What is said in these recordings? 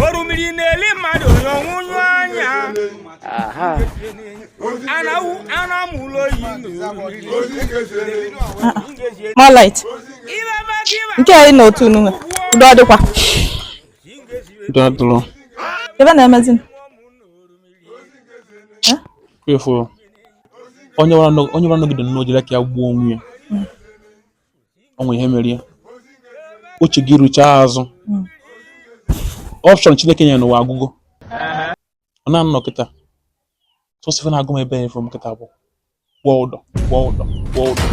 orumiri na-eli mmadụ n'ọnwụ nyụ anya anamụ ụlọ oyi More light. Nke anyị na otu unu nwe. Udo dịkwa. Udo adịrọ. Ebe na-emezi m. Efu onye wara nọgide n'ojele ka ya gbuo onwe ya. ọ nwere ihe mere ya uche gị ruchaa azụ option Chineke nyere n'ụwa agwụgo ọ na anọ kịta sọsọ ife na-agụ m ebe fọ m kịta bụ kwụọ ụdọ kwụọ ụdọ kwụọ ụdọ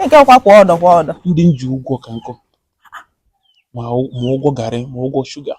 nke ọkwa kwụọ ụdọ kwụọ ụdọ ndị m ji ụgwọ ka nkọ ma ụgwọ garị ma ụgwọ sugar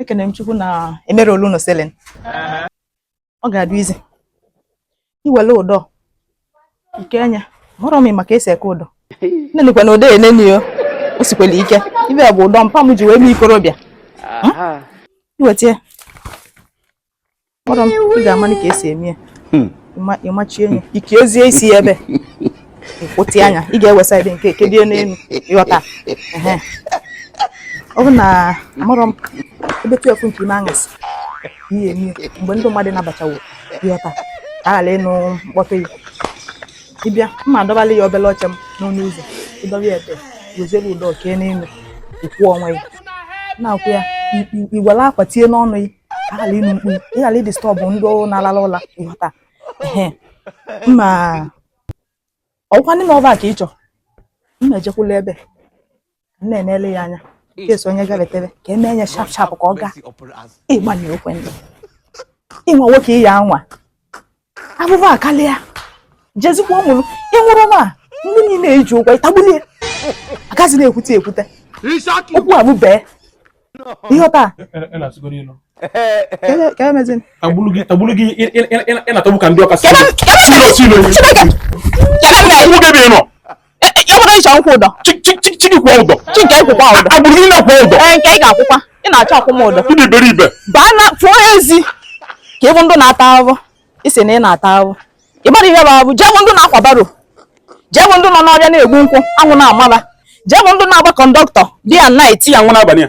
ekene m Chukwu na e mere olu na ceiling ọ ga-adị easy iwele ụdọ nke anya hụrụ m ị ma ka e si eke ụdọ nenekwa na ụdọ enenio o sikwele ike ife bụ ụdọ mpa m ji wee mee ikorobịa iweta kpọrọ m ị ga-amalị ka e si eme ya hmm. ị machie ya i kezie isi ya ebe ịkwụtị anya ị ga-ewesa ebe nke kedie n'elu ịghọta ọ bụ na amarọ m ebe twelve nke ime anyasị ihe eme mgbe ndị mmadụ nabachawo ịghọta ka a ghara ịnụ mkpọtụ ya ị bịa mma adọbala ya obele oche m n'ọnụ ụzọ ị dọba ya ebe weziere ụdọ kee n'elu ịkwụ onwe ya na-akwụ ya i were akwa tinye n'ọnụ ya a ghara ịnụ mkpu ị ghara ịdisturb ndị na-alala ụla ịghọta ma ọkwa ndị ọba ka ị chọ m na-ejekwula ebe m na-enele ya anya case onye gabetere ka e mee ya sharp sharp ka ọ gaa ịgbanye okwe ndị ịnwa nwoke ịya anwa afụfụ akalịa jezikwa nwụrụ ị nwụrụ ma ndị niile i ji ụgwọ ịtagbulie agazi na-ekwute ekwute okwu abụ bee ihe taa tagburu gị ị na-atọgbu ka ndị ọka si ilo si ilo E, e, ya nwere ị chọ m kwụọ ụdọ chi gị kwụọ ụdọ chi nke gị kwụkwaa ụdọ agbụrụ gị niile kwụọ ụdọ ee nke ị ga-akwụkwa ị na-achọ ịkwụ m ụdọ ị dị iberibe baa na pụọ ezi ka ị fụ ndị na-ata ahụhụ ị sị na ị na-ata ahụhụ ị mara ihe bụ ahụhụ jee fụ ndị na-akwa barrow jee fụ ndị nọ n'ọfịa na-egbu nkwụ anwụ na-ama fa jee fụ ndị na-agba conductor di ya nna eti ya nwụrụ abalị ya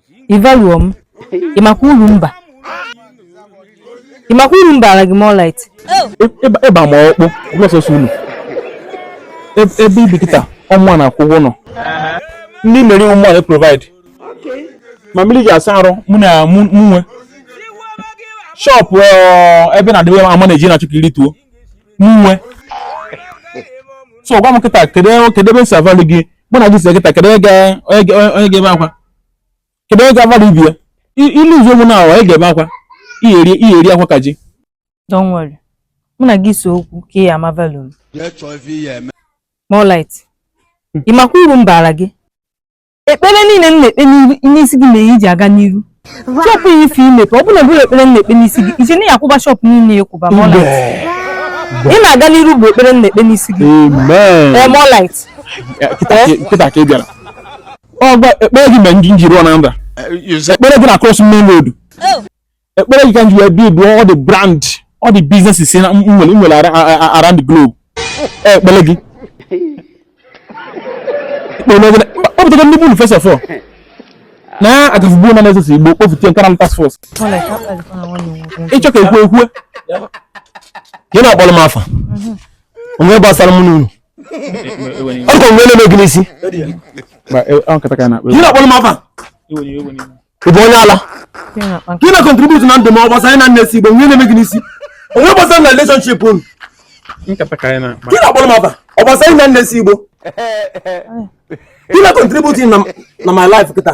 Ị value m, ị makwa uru mba? Ị makwa uru m baara gị More light? Ịba ma ọkpụ, ọsọsọ unu. Ebe i bi kịta, ọ mụwa na-akwụ ụgwọ ụnọ. Nri ị na-eri ọ mụwa na-provide. Ma mmiri i ji asa arụ mụwa nwe. Shop ebe na-adịwe ama na-eji na-achọ ka i rituo. Mụ nwe. So gwa m kịta, kedu ebe e si a-value gị? Mụ na gị si kịta, kedu onye ga-ebe akwa? kedu onye ga-agbara ibi ya ilu ụzọ ụmụ na awa ị ga-ebe akwa iyeri akwa ka ji don't worry mụ na gị so okwu ka ị ama value m Moonlight hmm. ị makwa uru m baara gị ekpere niile m na-ekpe n'isi gị mere i ji aga n'iru shop ya ife imepe ọ bụla bụrụ ekpere m na-ekpe n'isi gị ije na ya akwụba shop niile ya kwụba Moonlight ị na-aga n'iru bụ ekpere m na-ekpe n'isi gị Moonlight kịta ka ị bịara ọ kwa ekpere gị mere m ji m jiri ọna nra ekpere gị na-cross main road oh. ekpere gị ka m ji wee build all the brand all the businesses na nwere nwere around the globe eh, ekpere gị kpọpụtago ndị bụlụ first of all na agafugbuo na na-esosi igbo kpọfute nkara task force ị chọ ka ekwe ekwe gị na-akpọrọ m afa o nwe gbasara m n'unu ọ dịkwa ihe na-eme gị n'isi ị bụ onye ala gị na-contribute na ndụ m ọ gbasara na nne si igbo nwe na-eme gị n'isi o nwe gbasara na relationship unu gị na-akpọrọ m afa ọ gbasara na nne si igbo gị na-contribute na my life kịta